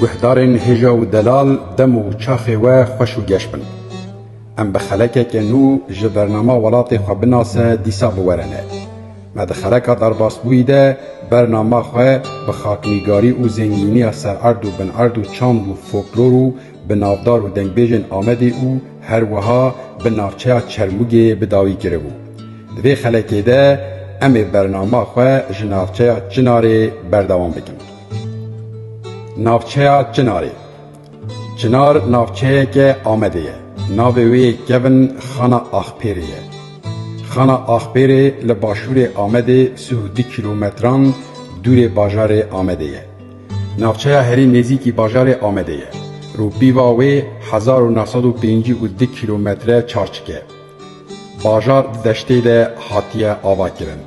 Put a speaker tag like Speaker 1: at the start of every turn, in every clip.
Speaker 1: Guhdarên hêja û delal dem û çaxê we xweş û geş bin. Em bi xelekeke nû ji bernama welatê xwe binase dîsa biwerene. Me di xeleka derbasbûyî de bernama xwe bi xaknîgarî û zengîniya sererd û binerd û çand û foklor û bi navdar û dengbêjên Amedê û her wiha bi navçeya Çermûgê bi dawî kiribû. Di vê xelekê de em ê bernama xwe ji navçeya Çinarê berdewam bikin. Navçeya Çinarê Çinar navçeyeke Amedê ye. Navê wê yê kevin Xana Axpêrê ye. Xana Axpêrê li başûrê Amedê sih û du kîlometran dûrê bajarê Amedê ye. Navçeya herî nêzîkî bajarê Amedê ye. Rûpîva wê hezar û neh sed û pêncî û du kîlometre çarçik e. Bajar di deştê de hatiye avakirin.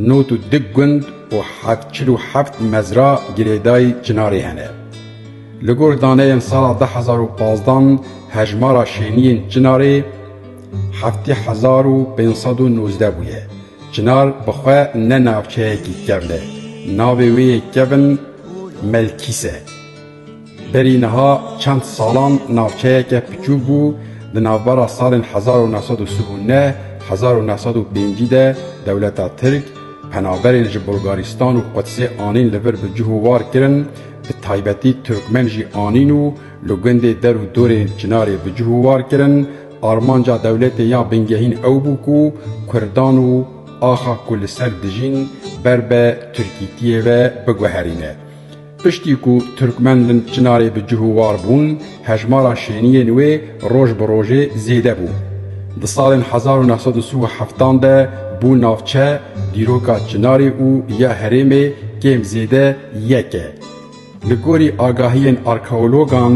Speaker 1: Nod û du gund û heft çil û heft mezra girêdayî çinarê hene. Li gor daneyên sala du hezar û pazdan hejmara şêniyên çinarê heftê hezar û pênc sed û nozdeh bûye. Çinar bi xwe ne navçeyekî kevn e, navê wê yê kevn Melkîs e. Berî niha çend salan navçeyeke piçûk bû, di navbera salên hezar û neh sed û sih û neh, hezar û neh sed û pêncî de dewleta Tirk penaberên ji Bulgarîstan û Qudsê anîn li vir bi cih û war kirin, bi taybetî Tirkmen jî anîn û li gundê der û dorê Çinarê bi cih û war kirin, Armanca dewletê ya bingehîn ew bû ku kurdan û axa ku li ser dijîn ber be tirkîtiyê ve biguherîne. Piştî ku Tirkmen li Çinarê bi cih û war bûn, hejmara şêniyên wê roj bi rojê zêde bû. Di salên hezar û neh sed û sî û heftan de bû navçe, dîroka Çinarê û ya herêmê kêm zêde yek e. Li gorî agahiyên arkeologan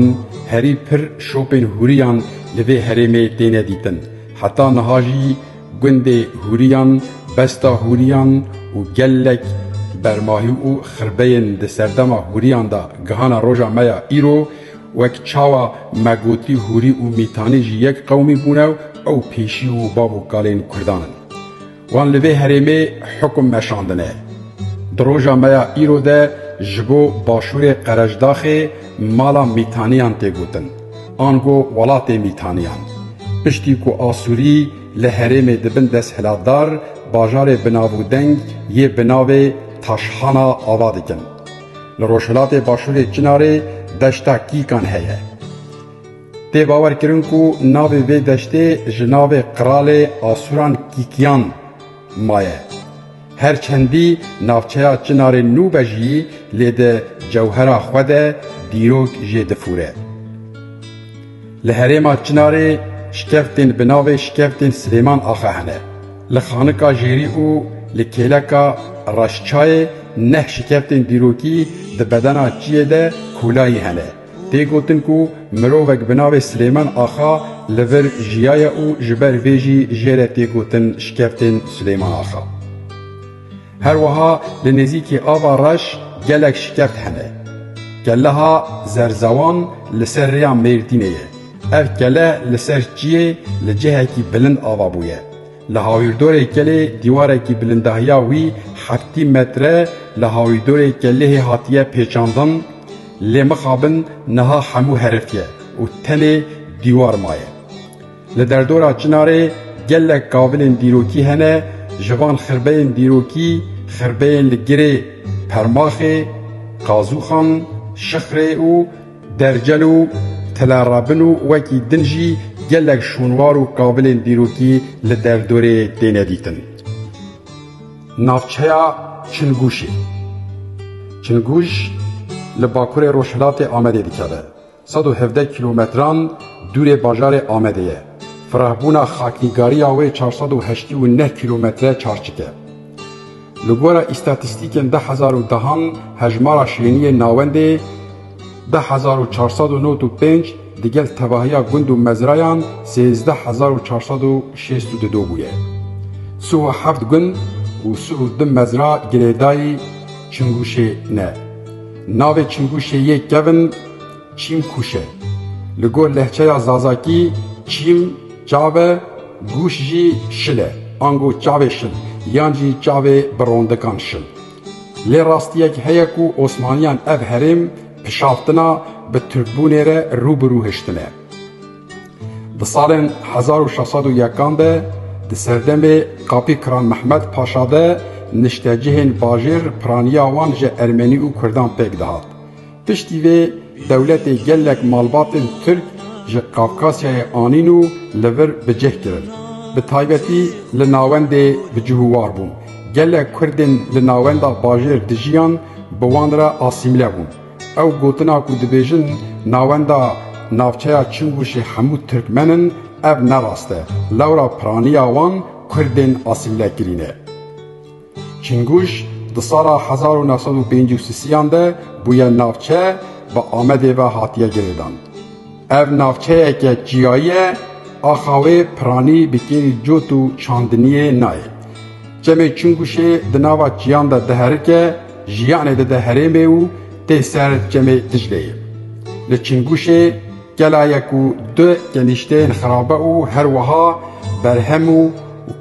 Speaker 1: herî pir şopên hûriyan li vê herêmê têne dîtin. Heta niha jî gundê hûriyan, besta hûriyan û gelek bermahî û xirbeyên di serdema hûriyan de gihana roja me ya îro, wek çawa me gotî hûrî û mîtanî jî yek qewmî bûne û ew pêşî û bav û kalên kurdan in. Wan li vê herêmê hukum meşandine. Di roja me ya îro de ji bo Başûrê Qerejdaxê mala Mîtaniyan tê gotin, ango welatê Mîtaniyan. Piştî ku Asûrî li herêmê di bin desthilatdar bajarê binavûdeng yê bi navê Taşhana ava dikin. Li rojhilatê Başûrê Çinarê deşta Kîkan heye. Tê bawer kirin ku navê vê deştê ji navê qralê Asuran Kîkyan maye. Her çendî navçeya Çinarê nû be jî lê di cewhera xwe de dîrok jê difûre. Li herêma Çinarê şkeftên bi navê Şkeftên Silêman Axa hene. Li Xanika Jêrî û li Kêleka Reşçayê neh şikeftên dîrokî di bedena çiyê de kûlayî hene. Tê gotin ku mirovek bi navê Silêman Axa li vir jiyaye û ji ber vê jî jê re tê gotin Şikeftên Silêman Axa. Her wiha li nêzîkî Ava Reş gelek şikeft hene. Keleha Zerzewan li ser rêya Mêrdînê ye. Ev kele li ser çiyê li cihekî bilind ava bûye. Li Hawîrdorê Kelê dîwarekî bilindahiya wî heftî metre li Hawîrdorê Kelehê hatiye pêçandin lê mixabin niha hemû heriftiye û tenê dîwar maye. Li derdora Çinarê gelek kavilên dîrokî hene ji van xirbeyên dîrokî xirbeyên li Girê, Permaxê, Qazûxan, Şixrê û Dercel û Tila Rabin û wekî din jî gelek şûnwar û kavilên dîrokî li derdorê têne dîtin. Navçeya Çingûşê, Çingûş li bakurê rojhilatê Amedê dikeve, sed û hevdeh kîlometran dûrê bajarê Amedê ye. Firehbûna xaknîgariya wê çar sed û heştî û neh kîlometre çarçik e. Li gora îstatîstîkên du hezar û dehan hejmara şêniyên navendê deh hezar û çar sed û newt û pênc digel tevahiya gund û mezrayan sêzdeh hezar û çar sed û şêst û du do bûye. Sih û heft gund û sih û du mezra girêdayî Çingûşê ne. Navê Çingûşê yê kevn, Çîm kûş e. Li gor lehçeya zazakî çîm çav e, gûş jî şil e. Ango çavê şil yan jî çavê bi rondikan şil. Lê rastiyek heye ku Osmaniyan ev herêm pişaftina bi Tirkbûnê re rû bi rû hiştine. Di salên hezar û şeş sed û yekan de di serdemê Kapî Kiran Mehmed Paşa de niştecihên bajêr piraniya wan ji Ermenî û Kurdan pêk dihat. Piştî vê dewletê gelek malbatên Tirk ji Kafkasyayê anîn û li vir bi cih kirin. Bi taybetî li navendê bi cih û war bûn. Gelek Kurdên li navenda bajêr dijiyan bi wan re asîmîle bûn. Ew gotina ku dibêjin navenda navçeya Çingûşê hemû Tirkmen in ev ne rast e. Lewra piraniya wan Kurdên asîmîlekirî ne. Çinguj di sala hezar û neh sed û pêncî û sisiyan de bûye navçe bi Amedê ve hatiye girêdan. Ev navçeyeke çiyayî ye, axa wê piranî bi kêlî cot û çandiniyê nayê. Çemê Çinguşê di nava çiyan de diherike, jiyanê dide herêmê û tê ser Çemê Dicleyê. Li Çinguşê. Gelaya ku di kenîşteyên xirabe û her wiha berhem û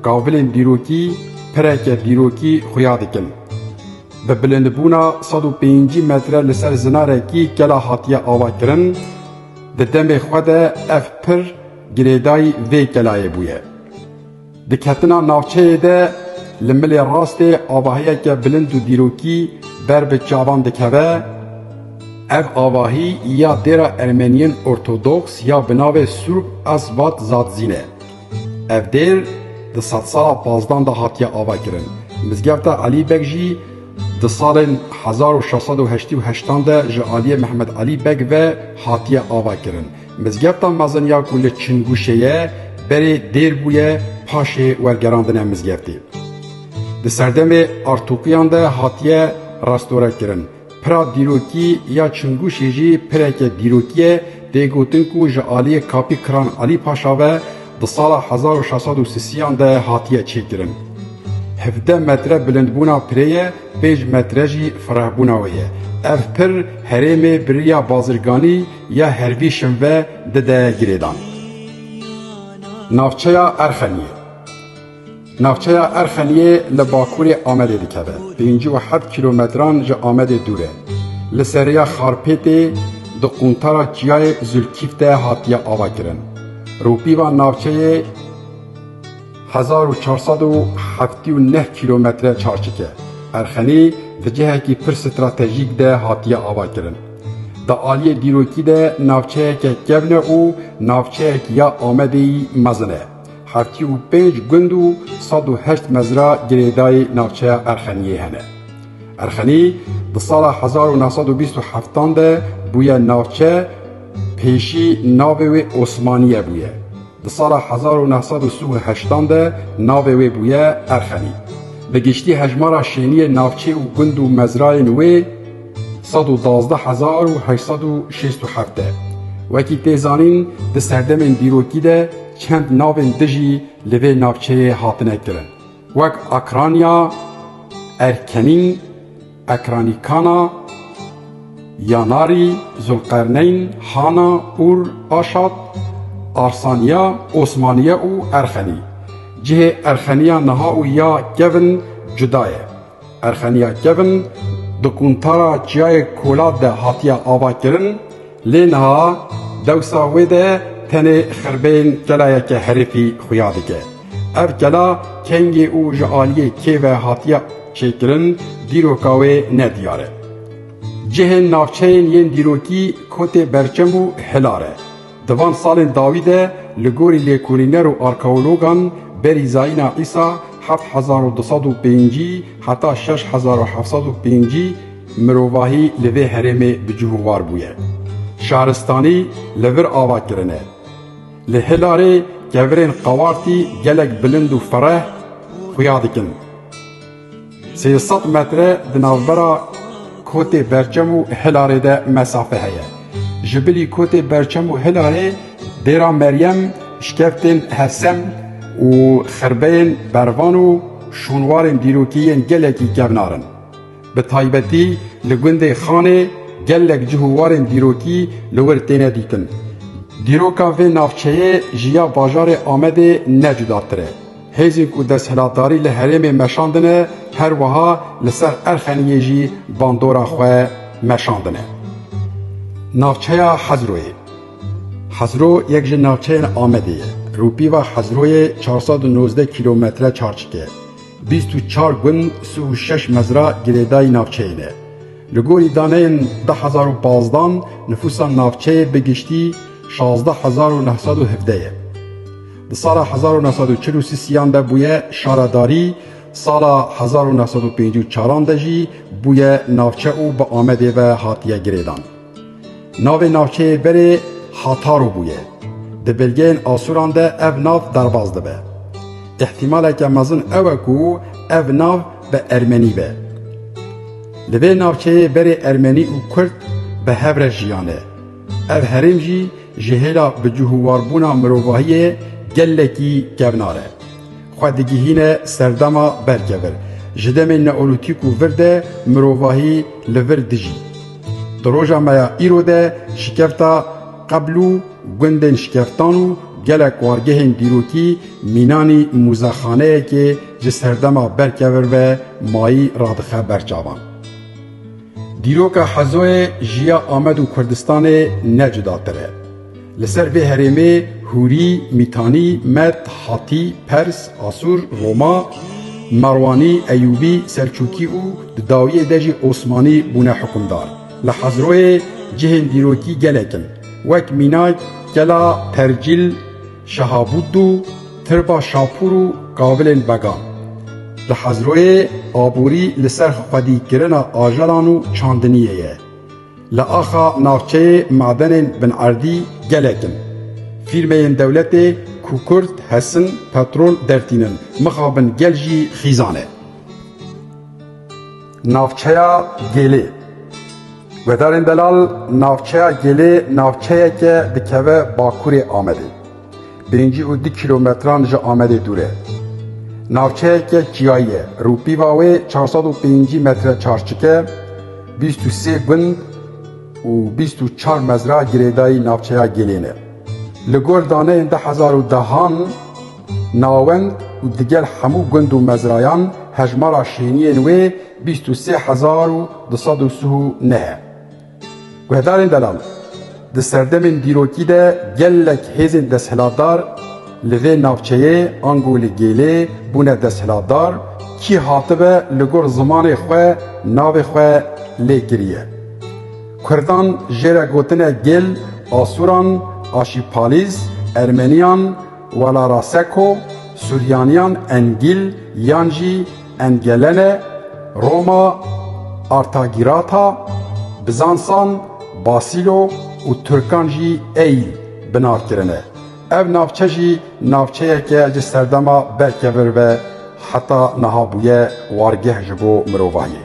Speaker 1: kavilên dîrokî pireke dîrokî xuya dikin. Bi bilindbûna sed û pêncî metre li ser zinarekî kela hatiye avakirin, di demê xwe de ev pir girêdayî vê kelayê bûye. Di ketina navçeyê de li milê rastê avahiyeke bilind û dîrokî ber bi çavan dikeve. Ev avahî ya dêra Ermeniyên Ortodoks ya bi navê Surb Asvat Zadzîn e. Ev dêr di sedsala pazdan de hatiye avakirin. Mizgefta Elî Beg jî di salên hezar û şeş sed û heştî û heştan de ji aliyê Mehmed Elî Beg ve hatiye avakirin. Mizgefta mezin ya ku li Çingûşê ye berê dêr bûye paşê wergerandine mizgeftê. Di serdemê artokiyan de hatiye restorekirin. Pira dîrokî ya Çingûşê jî pireke dîrokî ye, tê gotin ku ji aliyê Kapî Kiran Elî Paşa ve di sala hezar û şeş sed û sisiyan de hatiye çêkirin. Hevdeh metre bilindbûna pirê ye, pênc metre jî firehbûna wê ye. Ev pir herêmê bi riya bazirganî ya herbî şinve dide girêdan. Navçeya Erxeniyê Navçeya Erxeniyê li bakurê Amedê dikeve, pêncî û heft kîlometran ji Amedê dûr e. Li ser rêya Xarpêtê di quntara Çiyayê Zûlkîf de hatiye avakirin. Rûpîva navçeyê. Hezar û çar sed û heftî û neh kîlometre çarçike Erxenî di cihekî pir stratejîk de hatiye avakirin. Di aliyê dîrokî de navçeyeke kevne û navçeyek ya Amedê yî mezin e. Heftî û pênc gund û sed û heşt mezra girêdayî navçeya Erxeniyê hene. Erxenî di sala hezar û neh sed û bîst û heftan de bûye navçe, pêşî navê wê Osmaniye bûye. Di sala hezar û neh sed û si û heştan de navê wê bûye Erxenî. Bi giştî hejmara şêniyên navçê û gund û mezrayên wê sed û duwazdeh hezar û heşt sed û şêst û heft e. Wekî tê zanîn di serdemên dîrokî de çend navên di jî li vê navçeyê hatine kirin wek Akranya, Erkenî, Ekranî Kana, Yanarî, Zulqerneyn, Hana, Ur, Aşat, Arsaniya, Osmaniye û Erxenî. Cihê Erxeniya niha û ya kevin cuda ye. Erxeniya kevin di Quntara Çiyayê Kolat de hatiye avakirin. Lê niha dewsa wê de tenê xirbên kelayeke herifî xuya dike. Ev kela kengê û ji aliyê kê ve hatiye çêkirin dîroka wê ne diyar e. Cihên navçeyên yên dîrokî kotê berçem û hilar e. Di van salên dawî de li gorî lêkolîner û arkeologan berî Zayîna Îsa heft hezar û du sed û pêncî heta şeş hezar û heft sed û pêncî, Mirovahî li vê herêmê bi cih û war bûye. Şaristanî li vir ava kirine. Li Hilarê kevirên qawartî gelek bilind û fereh xuya dikin. Sê sed metre di navbera Kotê Berçem û Hilarê de mesafe heye. Ji bilî Kotê Berçem û Hilarê Dêra Meryem, Şkeftên Hesem û Xirbeyên Bervan û şûnwarên dîrokî yên gelekî kevnar in. Bi taybetî li gundê Xanê gelek cih û warên dîrokî li wir têne dîtin. Dîroka vê navçeyê ji ya bajarê Amedê ne cudatir e. Hêzên ku desthilatdarî li herêmê meşandine her wiha li ser Erxeniyê jî bandora xwe meşandine. Navçeya Hezroyê Hezro yek ji navçeyên Amedê ye. Rûpîva Hezroyê çar sed û nozdeh kîlometre çarçik e. Bîst û çar gund sih û şeş mezra girêdayî navçeyê ne. Li gorî daneyên du hezar û pazdeh nifûsa navçeyê bi giştî şazdeh hezar û neh sed û hevdeh ye. Di sala hezar û neh sed û çil û sî siyan de bûye şara darî, sala hezar û neh sed û pêncî û çaran de jî bûye navçe û bi Amedê ve hatiye girêdan. Navê navçeyê berê Hataro bûye. Di belgeyên Asûran de ev nav derbas dibe. Îhtîmaleke mezin ew e ku ev nav bi ermenî be. Li vê navçeyê berê ermenî û kurd bi hev re jiyane. Ev herêm jî ji hêla bicûhûwarbûna mirovahiyê gelekî kevnar e. Xwe digihîne serdema berkevir. Ji demên neolîtîk û vir de mirovahî li vir dijî. Di roja me ya îro de şikefta qebl û gundên şikeftan û gelek wargehên dîrokî mînanî muzexaneyekê ji serdema berkevir ve mayî radixe ber çavan. Dîroka Hezoyê ji ya Amed û Kurdistanê ne cudatir e. Li ser vê herêmê Hûrî, Mîtanî, Med, Hatî, Pers, Asûr, Roma, Merwanî, Eyûbî, Selçûkî û di dawiyê de jî Osmanî bûne hikûmdar. Li Hezroyê cihên dîrokî gelek in. Wek mînak Kela Tercîl, Şehabûddû, Tirba Şapûr û Kavilên Began. Li Hezroyê aborî li ser xwedîkirina ajelan û çandiniyê ye. Li axa navçeyê madenên binerdî gelek in. Fîrmeyên dewletê ku kurd hesin petrol dertînin, mixabin gel jî xîzan e. Navçeya Gêlê Guhdarên Delal Navçeya Gêlê navçeyeke dikeve bakurê Amedê. Bêncî û du kîlometran ji Amedê dûr e. Navçeyeke çiyayî ye. Rûpîva wê çar sed û pêncî metre çarçik e. Bîst û sê gund û bîst û çar mezra girêdayî navçeya Gêlê ne. Li gor daneyên du hezar û dehan nawend û digel hemû gund û mezrayan hejmara şêniyên wê bîst û sê hezar û du sed û sih û neh e. Guhdarên delal, di serdemên dîrokî de gelek hêzên desthilatdar li vê navçeyê ango li gêlê bûne desthilatdar, kî hatibe li gor zimanê xwe navê xwe lê kiriye. Kurdan jê re gotine gêl Asuran, Aşîpalîz, Ermeniyan, Walaraseko, Suryaniyan, Engîl yan jî, Engelene, Roma, Artagirata, Bizansan, Basîlo û Tirkan jî ey bi nav kirine. Ev navçe jî navçeyeke ji serdema berkevir ve heta niha bûye wargeh ji bo mirovahiyê.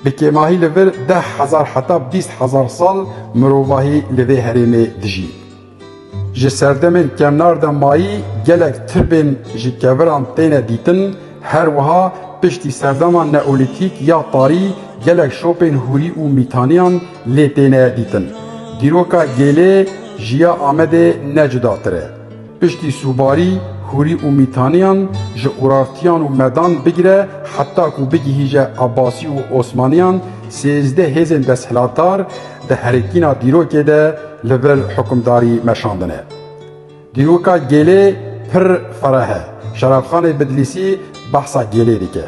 Speaker 1: Bi kêmahî li vir deh hezar heta bîst hezar sal mirovahî li vê herêmê dijî. Ji serdemên kevnar de mayî gelek tirbên ji keviran têne dîtin, her wiha piştî serdema neolîtîk ya tarî gelek şopên hûrî û mîtaniyan lê têne dîtin. Dîroka gêlê ji ya Amedê ne cudatir e. Piştî sûbarî, hûrî û mîtaniyan ji Urartiyan û Medan bigire heta ku bigihîje Abasî û Osmaniyan sêzdeh hêzên desthilatdar, Di herikîna dîrokê de li vir hukimdarî meşandine. Dîroka Gêlê pir fereh e. Şerabxanê Bidlîsî behsa Gêlê dike.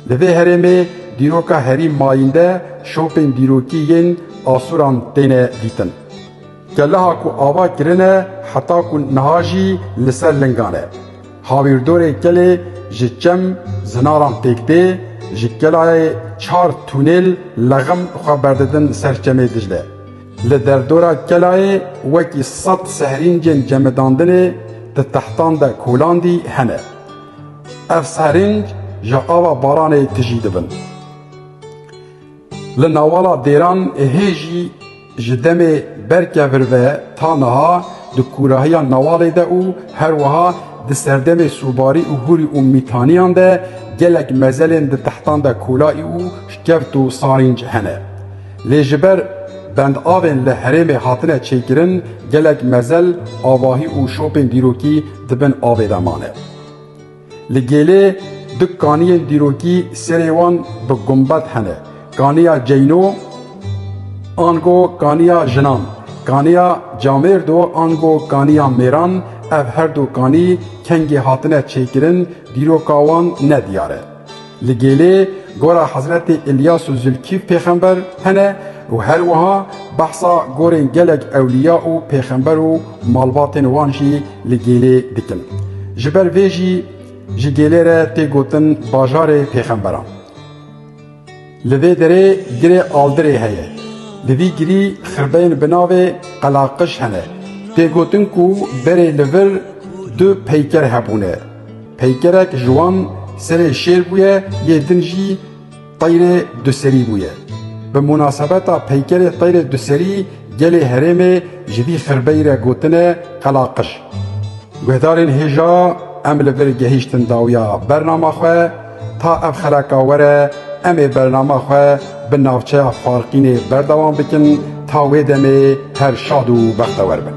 Speaker 1: Li vê herêmê dîroka herî mayînde şopên dîrokî yên Asuran têne dîtin. Keliha ku ava kirine heta ku niha jî li ser lingan e. Hawîrdorê kelê ji çem zinaran pêk tê, ji kelayê çar tûnêl lexim xwe berdidin ser çemê Dicle. Li derdora kelayê wekî sed sehrîncên cemidandinê di textan de kolandî hene. Ev sehrînc ji ava baranê tijî dibin. Li navala dêran hê jî Ji demê berkevir ve ta niha di kûrahiya newalê de û her wiha di serdemê sûbarî û hûrî û mîtaniyan de gelek mezelên di tehtan de kolaî û şkeft û sarînc hene. Lê ji ber bendavên li herêmê hatine çêkirin gelek mezel, avahî û şopên dîrokî di bin avê de mane. Li Gêlê du kaniyên dîrokî serê wan bi gumbet hene, kaniya Ceyno ango kaniya jinan, kaniya Camêrdo ango kaniya mêran, ev herdu kanî kengê hatine çêkirin dîroka wan ne diyar e. Li Gêlê gora Hezretê Îlyas û Zilkîf pêxember hene û her wiha behsa gorên gelek ewlîya û pêxember û malbatên wan jî li Gêlê dikin. Ji ber vê jî ji Gêlê re tê gotin Bajarê Pêxemberan. Li vê derê girê Aldirê heye. Di vî girî xirbeyên bi navê Qelaqiş hene. Tê gotin ku berê li vir du peyker hebûne. Peykerek ji wan serê şêr bûye yê din jî teyrê duserî bûye. Bi munasebeta peykerê teyrê duserî gelê herêmê ji vî xirbeyî re gotine Qela Qij. Guhdarên hêja em li vir gehîştin dawiya bernama xwe, Ta ev xereka were em ê bernama xwe bi navçeya Farqînê berdewam bikin ta wê demê her şad û bextewer bin.